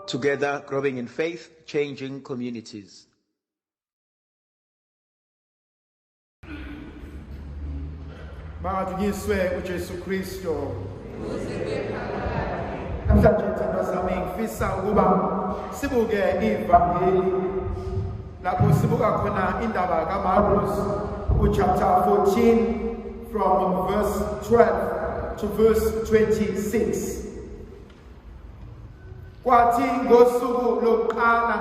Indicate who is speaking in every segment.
Speaker 1: Together, growing in faith, changing communities.
Speaker 2: Bangadunyiswe uJesu Kristo. Namhlanje ithando sami ngifisa ukuba sibuke ivangeli lapho sibuka khona indaba kaMarkus uchapter 14 from verse 12 to verse 26 kwathi ngosuku lokuqala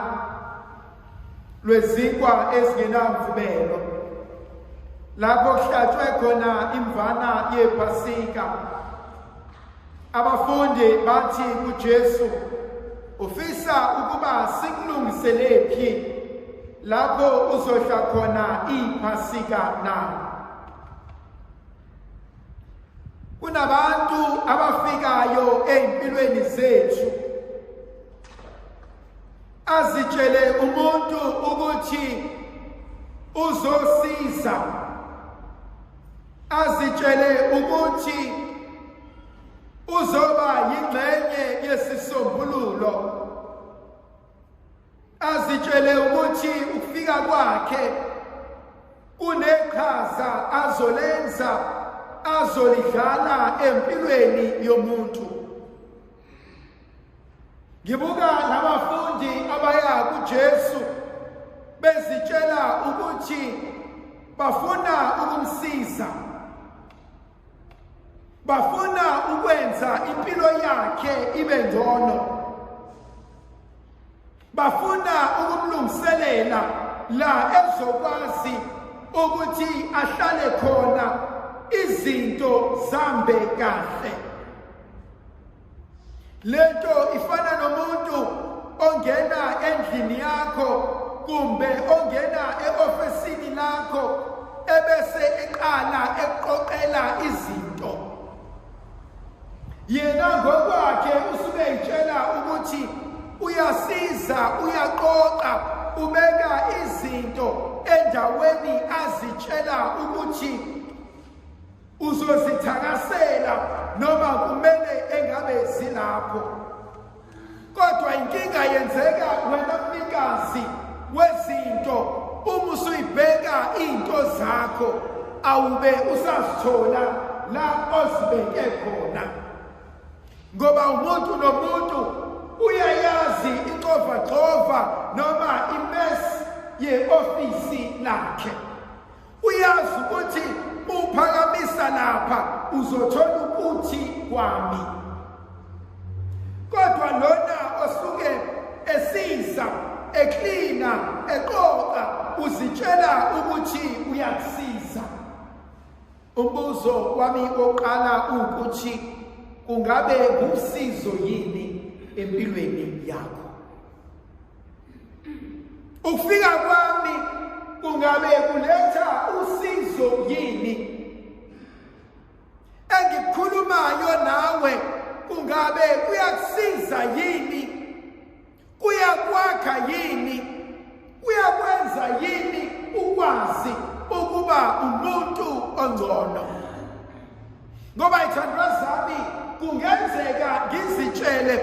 Speaker 2: lwezinkwa ezingenamvubelo lapho kuhlatshwe khona imvana yephasika Abafundi bathi kuJesu, "Ufisa ukuba sikulungiselephi lapho uzodla khona iPhasika na?" Kunabantu abafikayo ezimpilweni zethu azitshele umuntu ukuthi uzosiza Azitshele ukuthi uzoba yingxenye yesisombululo. Azitshele ukuthi ukufika kwakhe kuneqhaza azolenza azolidlala empilweni yomuntu. ngibuka labafundi abaya kuJesu bezitshela ukuthi bafuna ukumsiza bafuna ukwenza impilo yakhe ibe ngcono bafuna ukumlungiselela la ezokwazi ukuthi ahlale khona izinto zambe kahle lento ifana nomuntu ongena endlini yakho kumbe ongena eofisini lakho ebese eqala eqoqela izinto yena ngokwakhe usuke etshela ukuthi uyasiza uyaqoqa ubeka izinto endaweni azitshela ukuthi uzozithakasela noma kumele engabe zilapho kodwa inkinga yenzeka wena mnikazi wezinto uma usuyibheka into zakho awube usazithola la ozibeke khona ngoba umuntu nomuntu uyayazi ixova xova noma imesi ye-ofisi lakhe uyazi ukuthi uphakamisa lapha uzothola ukuthi kwami kodwa lona osuke esiza eklina eqoqa uzitshela ukuthi uyakusiza umbuzo wami oqala ukuthi kungabe ngumsizo yini empilweni yakho ukufika kwami kungabe kuletha usizo yini engikhulumayo nawe kungabe kuyakusiza yini kuyakwakha yini kuyakwenza yini ukwazi ukuba umuntu ongcono ngoba ithandwa zami kungenzeka ngizitshele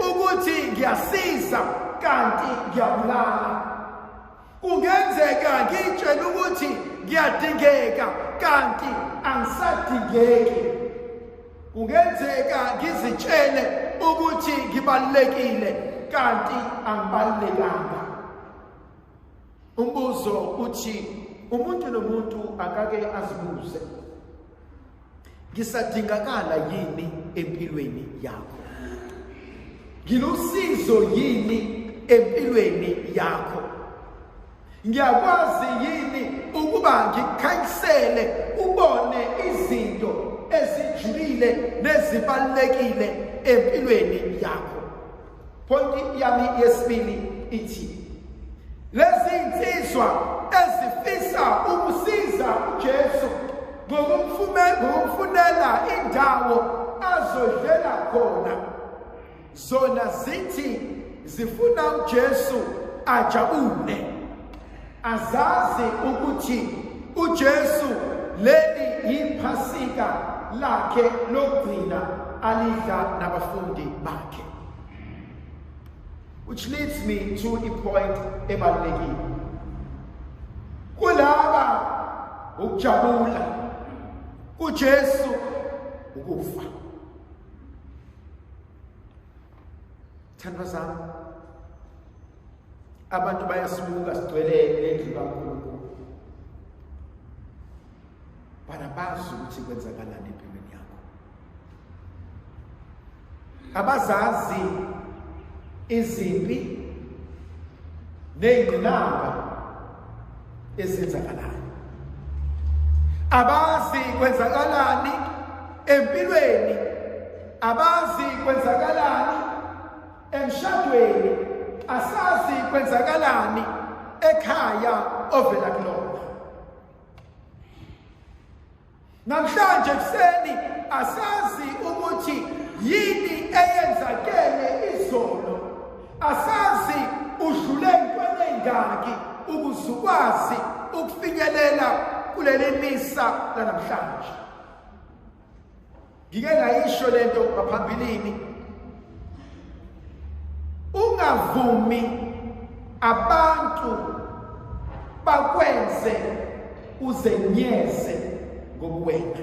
Speaker 2: ukuthi ngiyasiza kanti ngiyabulala kungenzeka ngitshele ukuthi ngiyadingeka kanti angisadingeki kungenzeka ngizitshele ukuthi ngibalulekile kanti angibalulekanga Umbuzo uthi umuntu nomuntu akake azibuze ngisadingakala yini empilweni yakho? Ngilusizo yini empilweni yakho? Ngiyakwazi yini ukuba ngikhanyisele ubone izinto ezijulile nezibalekile empilweni yakho? Pointi yami yesibili ithi lezi insizwa ezifisa ukusiza uJesu ngokumfunela indawo azodlela khona zona zithi zifuna uJesu ajabule azazi ukuthi uJesu leli yiphasika lakhe lokugcina alidla nabafundi bakhe which leads me to a point ebalulekile kulaba ukujabula kuJesu ukufa thandwa zami abantu bayasibuka sigcwele lendlu kaNkulunkulu bana bazi ukuthi kwenzakalani empilweni yakho abazazi izimpi nezingqinamba ezenzakalayo abazi kwenzakalani empilweni abazi kwenzakalani emshadweni asazi kwenzakalani ekhaya ovela kulona namhlanje kuseni asazi ukuthi yini eyenzakele izolo asazi udlule ntweni engaki ukuze ukwazi ukufinyelela kuleli misa lanamhlanje ngike ngayisho lento ngaphambilini ungavumi abantu bakwenze uzenyeze ngokuwena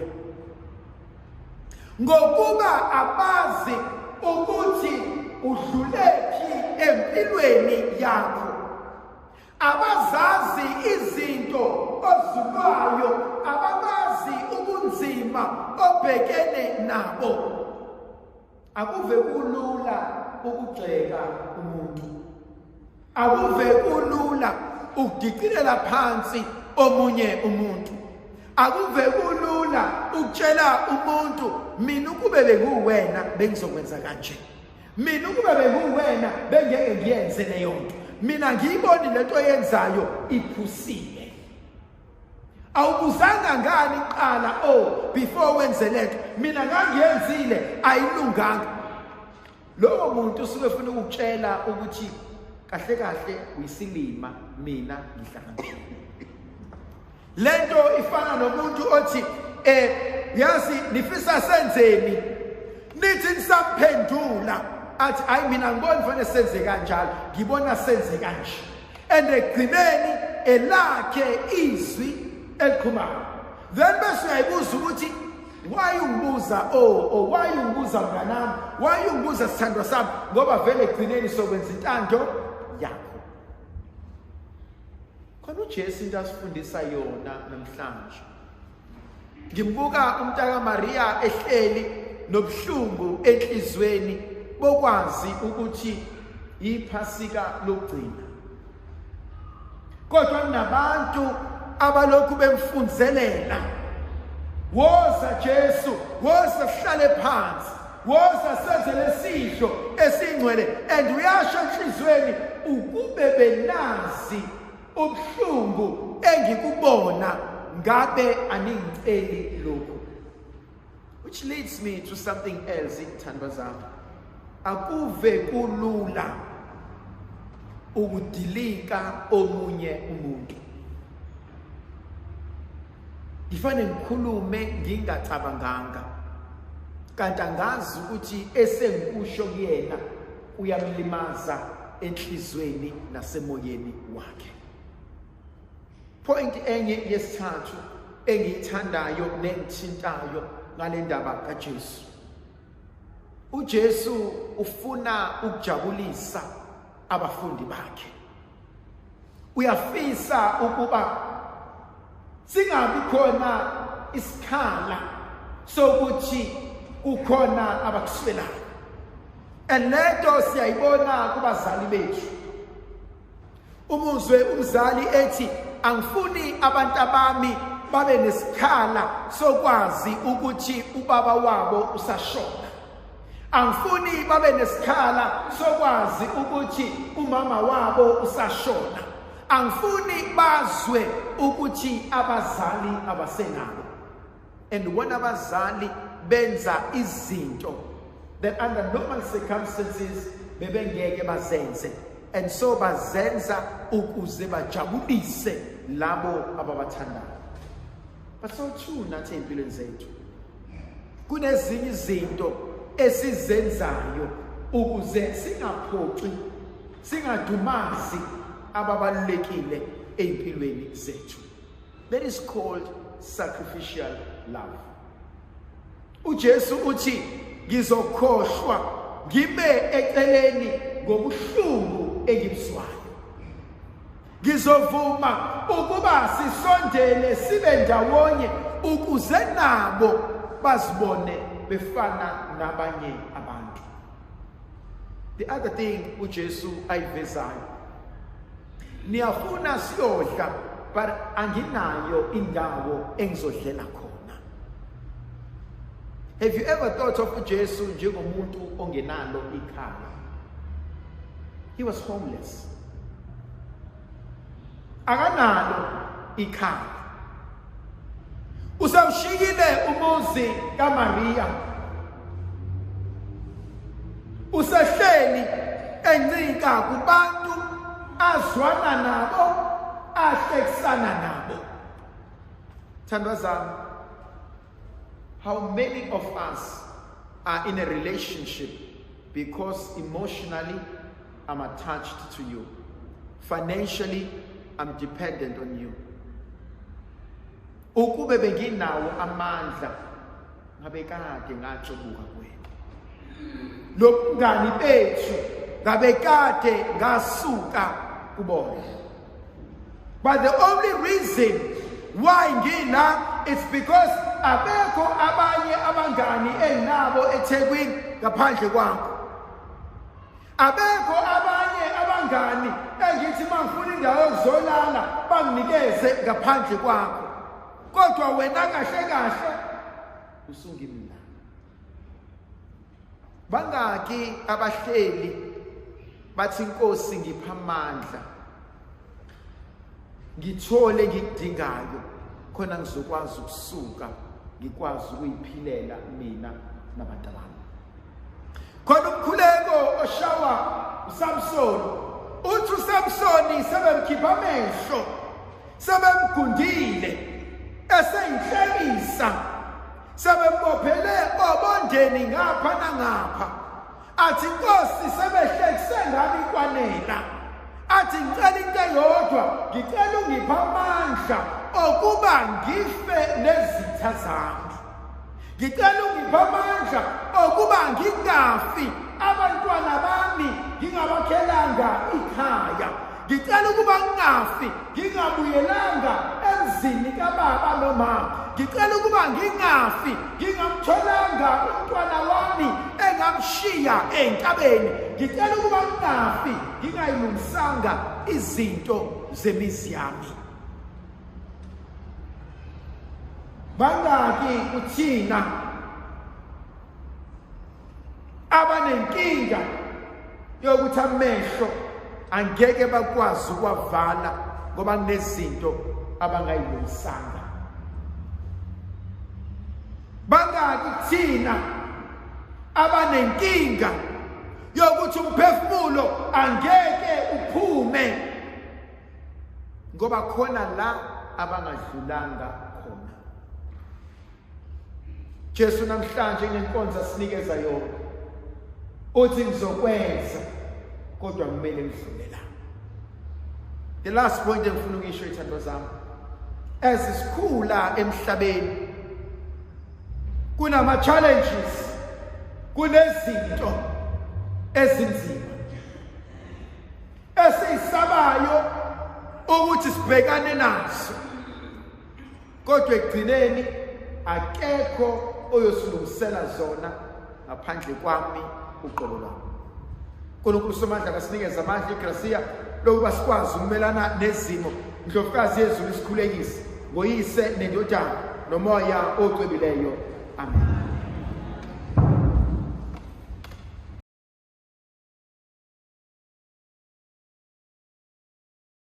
Speaker 2: ngokuba abazi ukuthi udlulephi empilweni yakho Abazazi izinto ozulwayo ababazi ubunzima obhekene nabo. Akuve kulula ukugxeka umuntu. Akuve kulula ukudicilela phansi omunye umuntu. Akuve kulula ukutshela umuntu mina ukube benguwena bengizokwenza kanje. mina ukuba benguwena bengeke ngiyenze leyo nto mina ngiyiboni lento yenzayo iphusile awubuzanga ngani qala o oh, before wenze lento mina ngangiyenzile ayilunganga lowo muntu usuke efuna ukukutshela ukuthi kahle kahle uyisilima mina ngihlakaniphile lento ifana nomuntu othi eh yazi nifisa senzeni nithi nisaphendula athi hayi mina ngibona fanele senze kanjalo ngibona senze kanje and egcineni elakhe izwi eliqhumayo then bese uyayibuza ukuthi why ungibuza o oh, o oh, why ungibuza mnganami why ungibuza sithandwa sami ngoba vele egcineni sokwenza intando yakho khona uJesu into asifundisa yona namhlanje ngimbuka umntaka Maria ehleli nobuhlungu enhlizweni bokwazi ukuthi yiphasika lokugcina kodwa kunabantu abalokhu bemfunzelela woza Jesu woza sihlale phansi Woza senze lesidlo esingcwele and uyasho enhlizweni ukube benazi ubuhlungu engikubona ngabe aningiceli lokhu. Which leads me to something else ithandwa zami. Akuve kulula ukudilika omunye umuntu. ngifane ngikhulume ngingacabanganga kanti angazi ukuthi esengikusho kuyena uyamlimaza enhlizweni nasemoyeni wakhe point enye yesithathu engiyithandayo nengithintayo ngale ndaba kaJesu uJesu ufuna ukujabulisa abafundi bakhe uyafisa ukuba singabi khona isikhala sokuthi kukhona abakuswelayo and lento siyayibona kubazali bethu umuzwe umzali ethi angifuni abantu abami babe nesikhala sokwazi ukuthi ubaba wabo usashona Angifuni babe nesikhala sokwazi ukuthi umama wabo usashona. Angifuni bazwe ukuthi abazali abasenabo. And when abazali benza izinto that under normal circumstances bebengeke bazenze and so bazenza ukuze bajabulise labo ababathandayo. But so too nathi empilweni zethu. kunezinye izinto esizenzayo ukuze singaphoxi singadumazi ababalulekile ezimpilweni zethu that is called sacrificial love uJesu uthi ngizokhohlwa ngime eceleni ngobuhlungu engibuzwayo Ngizovuma ukuba sisondele sibe ndawonye ukuze nabo bazibone befana nabanye abantu. The other thing uJesu ayivezayo. Niyafuna siyodla but anginayo indawo engizodlela khona. Have you ever thought of uJesu njengomuntu ongenalo ikhaya? He was homeless. akanalo ikhaya usawushikile umuzi kaMaria usehleli encika kubantu azwana nabo ahlekisana nabo thandwa zami How many of us are in a relationship because emotionally I'm attached to you. Financially I'm dependent on you. Ukube benginawo amandla ngabe kade ngatshubuka kwenu. Lobungani bethu ngabe kade ngasuka kubona. But the only reason why ngila it's because abekho abanye abangani enginabo eThekwini ngaphandle kwakho. Abekho abanye abangani engithi mangifuna indawo yokuzolala banginikeze ngaphandle kwakho. Kodwa wena kahle kahle usungimna. bangaki abahleli bathi inkosi ngipha amandla ngithole ngikudingayo khona ngizokwazi ukusuka ngikwazi ukuyiphilela mina nabantu bami khona umkhuleko oshawa uSamson uthi uSamson sebemkhipha amehlo sebemgundile eseyinhlekisa sebembophele obondeni ngapha nangapha athi nkosi sebehlekise ngami kwanela athi ngicela into eyodwa ngicela ungiphe amandla okuba ngife nezitha zami ngicela ungiphe amandla okuba ngingafi abantwana bami ngingabakhelanga ikhaya Ngicela ukuba ngingafi ngingabuyelanga emzini kababa nomama. Ngicela ukuba ngingafi ngingamtholanga umntwana wami engamshiya entabeni. Ngicela ukuba ngingafi ngingayilungisanga izinto zemizi yami. Bangaki kuthina abanenkinga yokuthi amehlo angeke bakwazi ukwavala ngoba kunezinto abangayilungisanga bangaki thina abanenkinga yokuthi umphefumulo angeke uphume ngoba khona la abangadlulanga Jesu namhlanje inenkonzo asinikeza yona uthi ngizokwenza kodwa kumele ngidlule la the last point engifuna ukuyisho ithando zami as sikhula emhlabeni kunama challenges kunezinto ezinzima esiyisabayo ukuthi sibhekane nazo Kodwa ekugcineni akekho oyosilungisela zona ngaphandle kwami uqobo lwami. uNkulunkulu somandla kasinikeza amandla igrasiya lokuba sikwazi ukumelana nezimo ndlovukazi yezulu isikhulekise ngoyise nendodana nomoya ocwebileyo amen